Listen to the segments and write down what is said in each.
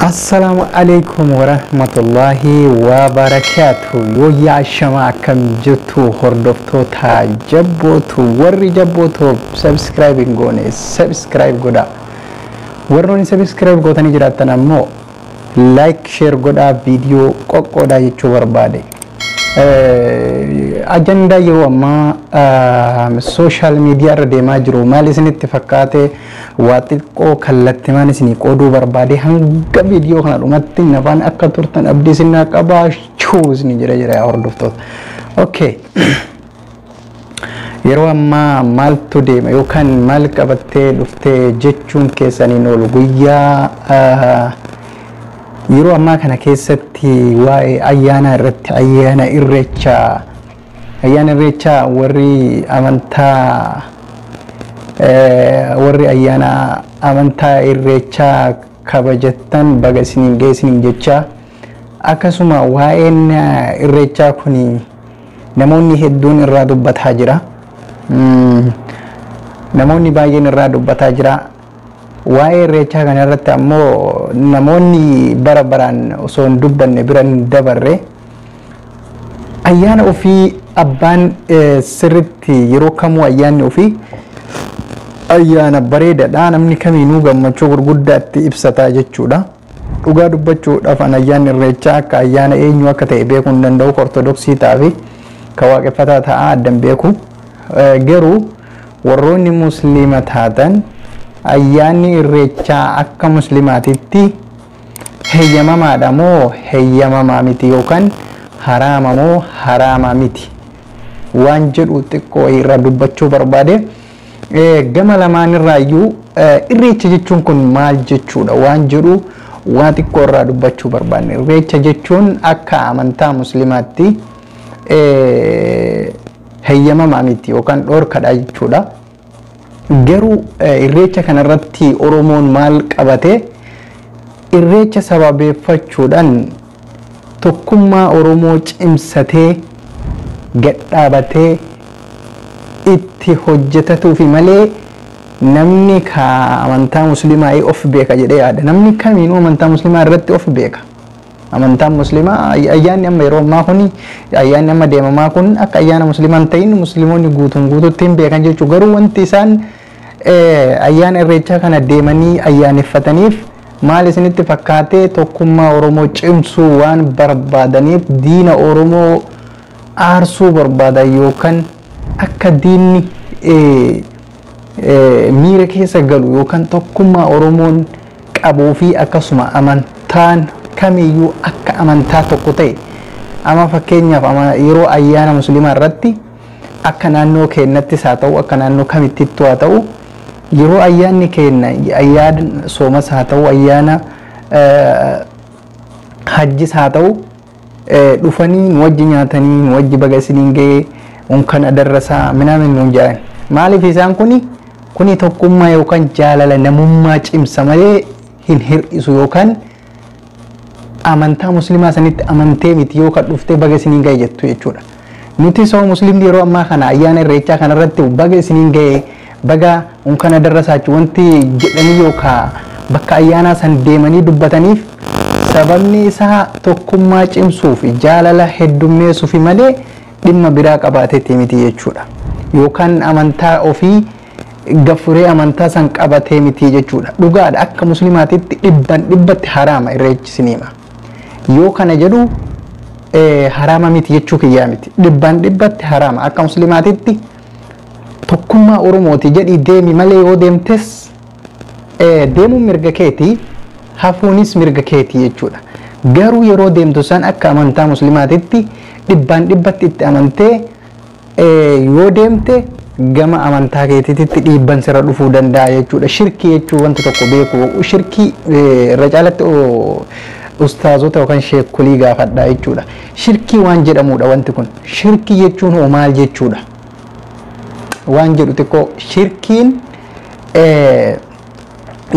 Assalaamu alaikum warahmatullahi wabarakaatu yooyyaa shama akkam jirtu hordoftoota jabbootu warri jabbootu subscribe hin goone subscribe godha warroonni subscribe gootanii jiraattan ammoo like share godhaa viidiyoo qoqqoodaa jechuu barbaade ajandaa yeroo ammaa sooshaal miidiyaa irra deemaa jiru maal isinitti fakkaate Waa xiqqoo kallattimaan isinii qooduu barbaade hanga viidiyoo kana dhumatti nafaan akka turtan abdii isin naa qabaa shuu isin jedha jira yaa hordoftoota. Okay. Yeroo ammaa maaltu deema yookaan maal qabattee dhuftee jechuun keessaniin oolu guyyaa yeroo ammaa kana keessatti waa'ee ayyaanaa irratti ayyaana irreechaa Ayyaana Irreechaa warri amantaa warri ayyaana amantaa Irreechaa kabajattan baga isiniin ga'e isiniin jechaa akkasuma waa'een Irreechaa kun namoonni hedduun irraa dubbataa jira. Namoonni baay'een irraa dubbataa jira. Waa'ee Irreechaa kana irratti ammoo namoonni bara baraan osoo hin dubbanne bira hin dabarre Ayyaana ofii abbaan sirritti yeroo kamuu ayyaanni ofii ayyaana bareedadha namni kamiinuu gammachuu gurguddaatti ibsata jechuudha. Dhugaa dubbachuudhaaf an ayyaanni irreechaa akka ayyaana eenyu akka ta'e beekuu hin danda'u ka ortodoksii ta'aa fi ka waaqeffataa ta'aa addan beeku. Garuu warroonni musliima taatan ayyaanni irreechaa akka muslimaatitti heyyamamaadha moo heyyamamaa miti yookaan haraama moo haraama miti waan jedhu xiqqoo irraa dubbachuu barbaade. Gama lamaanirraayyuu irreecha jechuun kun maal jechuudha waan jedhu waa xiqqoo irraa dubbachuu barbaanne. Irreecha jechuun akka amantaa muslimaatti heyyamamaa miti yookaan dhoorkadha jechuudha. Garuu irreecha kana irratti Oromoon maal qabate? Irreecha sababeeffachuudhan tokkummaa Oromoo cimsatee, gadhaabatee itti hojjetatuufi malee namni kaa amantaa muslimaa of beeka jedhee yaada. Namni kamiinuu amantaa muslimaa irratti of beeka. Amantaan Muslimaa ayyaanni amma yeroo ammaa kun ayyaanni amma deemamaa kun akka ayyaana Muslimaa hin ta'in Muslimoonni guutuun guututti hin beekan jechuu garuu wanti isaan ayyaana irreechaa kana deemanii ayyaaneffataniif maal isinitti fakkaatee tokkummaa Oromoo cimsuu waan barbaadaniif diina Oromoo aarsuu barbaadan yookaan akka diinni miira keessa galu yookaan tokkummaa Oromoon qabuu fi akkasuma amantaan kamiyyuu akka amantaa tokko ta'e amma fakkeenyaaf amma yeroo ayyaana musliimaa irratti akka naannoo keennattis haa ta'u akka naannoo kamittittu haa ta'u yeroo ayyaanni keenna ayyaana soomas haa ta'u ayyaana eh, hajjis haa ta'u dhufanii nu wajji nyaatanii nu wajji baga isiniin ga'e unkan adarrasaa minaamin nuun jedhan maaliif isaan kuni kuni tokkummaa yookaan jaalala namummaa cimsa malee hin hir'isu yookaan amantaa muslimaa sanitti amantee miti yookaan dhuftee baga isiniin ga'e jettu jechuudha. Nuti soo muslimni yeroo ammaa kana ayyaana irreechaa kana irratti baga isiniin ga'e baga unkan adarrasaachu wanti jedhanii yookaa bakka ayyaanaa san deemanii dubbataniif sababni isaa tokkummaa cimsuufi jaalala heddummeessufi malee dhimma biraa qabaateeti miti jechuudha. Yookaan amantaa ofii gaffuree amantaa san qabatee miti jechuudha. Dhugaadha akka muslimaatitti dhibban dhibbatti haraama irreechi siniima. Yoo kana jedhu haraama miti jechuu kiyyaa miti. Dhibbaan dhibbatti haraama. Akka muslimaatitti tokkummaa Oromooti jedhii deemi malee yoo deemtes deemuun mirga keeti hafuunis mirga keeti jechuudha. Garuu yeroo deemtu san akka amantaa muslimaatitti dhibbaan dhibbatti itti amantee Yoo deemte gama amantaa keetiititti dhiibban sirra dhufuu danda'a jechuudha. Shirkii jechuun wanta tokko beeku. Shirkii irra caalatti ustaazota yookaan sheekolii gaafadha jechuudha. Shirkii waan jedhamudha wanti kun. Shirkii jechuun hoo maal jechuudha? Waan jedhu xiqqoo shirkiin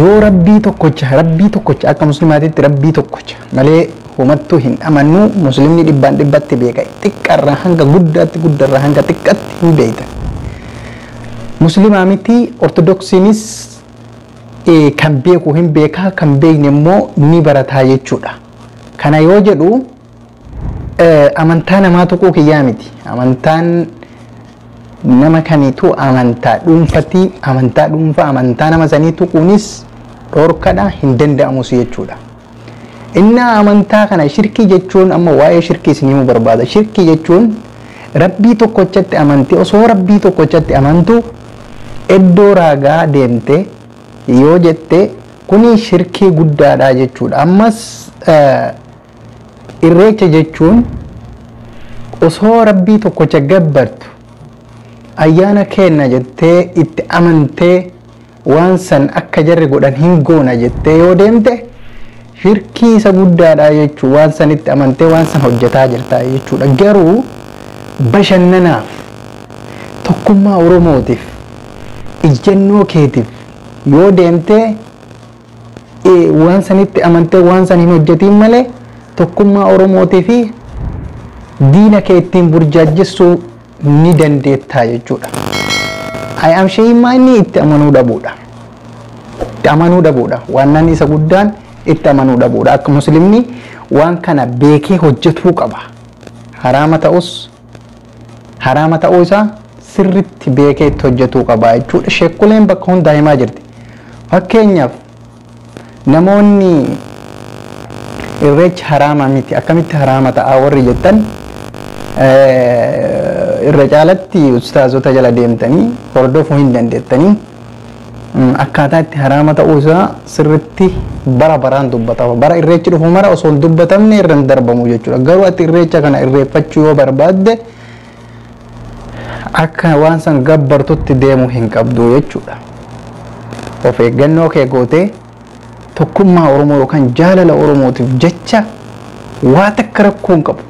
Yoo rabbii tokkocha rabbii tokkocha akka muslimaatitti rabbii tokkocha malee homattuu hin amannu muslimni dhibbaan dhibbatti beeka xiqqarraa hanga guddaatti guddarraa hanga xiqqatti hin beeyta muslimaa miti ortodoksiinis kan beeku hin beekaa kan beeyne immoo ni barataa jechuudha kana yoo jedhu Amantaa namaa tuquu kiyyaa miti. Amantaan nama kamiitu amantaa dhuunfati. Amantaa dhuunfaa amantaa nama sanii tuquunis dhorkadha hin danda'amus jechuudha. Innaa amantaa kana shirkii jechuun amma waa'ee shirkii isin himuu barbaada. Shirkii jechuun rabbii tokkochatti amante osoo rabbii tokkochatti amantu iddoo raagaa deemte yoo jette kuni shirkii guddaadha jechuudha. Ammas Irreecha jechuun osoo Rabbii tokkocha gabbartu ayyaana keenna jettee itti amantee waan san akka jarri godhan hin goona jettee yoo deemte shirkii isa guddaadha jechuu waan sanitti amantee waan san hojjetaa jirta jechuudha garuu bashannanaaf tokkummaa oromootiif ijjannoo keetiif yoo deemtee waan sanitti amantee waan san hin hojjetiin malee tokkummaa Oromootii fi diina kee ittiin burjaajjessuu ni dandeettaa jechuudha. Ayyaam Sheeyimmaa inni itti amanuu dhabuudha. Itti amanuu dhabuudha. Waannaan isa guddaan itti amanuu dhabuudha. Akka muslimni waan kana beekee hojjetuu qaba. Haraama ta'us haraama ta'uu isaa sirritti beekee itti hojjetuu qaba jechuudha. Sheekkuleen bakka hundaa himaa jirti. Fakkeenyaaf namoonni irreechi haraama miti akkamitti haraama ta'a warri jettan irra caalatti ustaazota jala deemtanii hordofuu hin dandeettanii. akkaataa itti haraama ta'uu isaa sirritti bara baraan dubbatama. Bara irreechi dhufu mara osoo hin dubbatamne irra hin darbamu jechuudha. Garuu ati irreecha kana irreeffachuu yoo barbaadde akka waan san gabbartutti deemuu hin qabdu jechuudha. Of eeggannoo kee gootee Tokkummaa Oromoo yookaan jaalala Oromootiif jecha waa takka rakkoo hin qabu.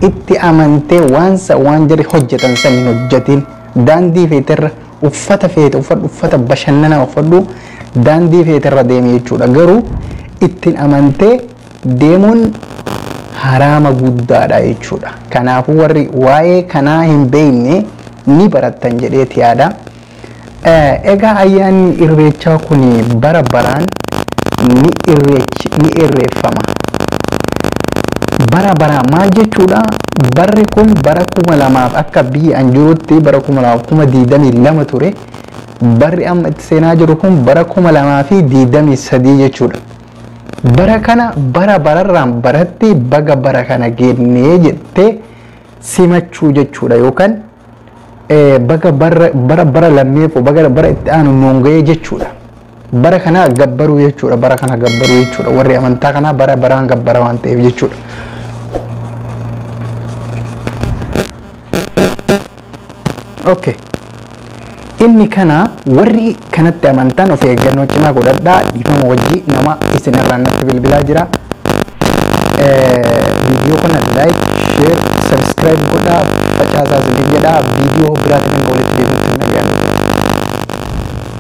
Itti amantee waan san waan jarri hojjatan san hin hojjatiin. Daandii feete irra uffata feete uffadhu uffata bashannanaa uffadhu daandii feete irra deemi jechuudha. Garuu ittiin amantee deemuun haraama guddaadha jechuudha. Kanaafuu warri waa'ee kanaa hin beekne ni barattan jedheeti yaada. Egaa ayyaanni irreechaa kun bara baraan ni irreeffama. Bara baraa maal jechuudha? Barri kun bara kuma lamaaf akka biyya an jirutti bara kuma lamaaf kuma diidamii lama ture. Barri amma itti seenaa jiru kun bara kuma lamaa fi diidamii sadii jechuudha. Bara kana bara bararraan baratti baga bara kana geennee jettee simachuu jechuudha yookaan baga bara bara lammee koo baga bara itti aanu nuun ga'ee jechuudha. Bara kana gabbaruu jechuudha bara kana gabbaruu jechuudha warri amantaa kanaa bara baraan gabbara waan ta'eef jechuudha. Okay. Inni kana warri kanatti amantan of eeggannoo cimaa godhadhaa dhiifama wajji nama isin irraan natti bilbilaa jira. Viidiyoo kana like, share, subscribe godhaa facaasaa isin jedhaa viidiyoo biraatiin hanga walitti deebinutti nagaan.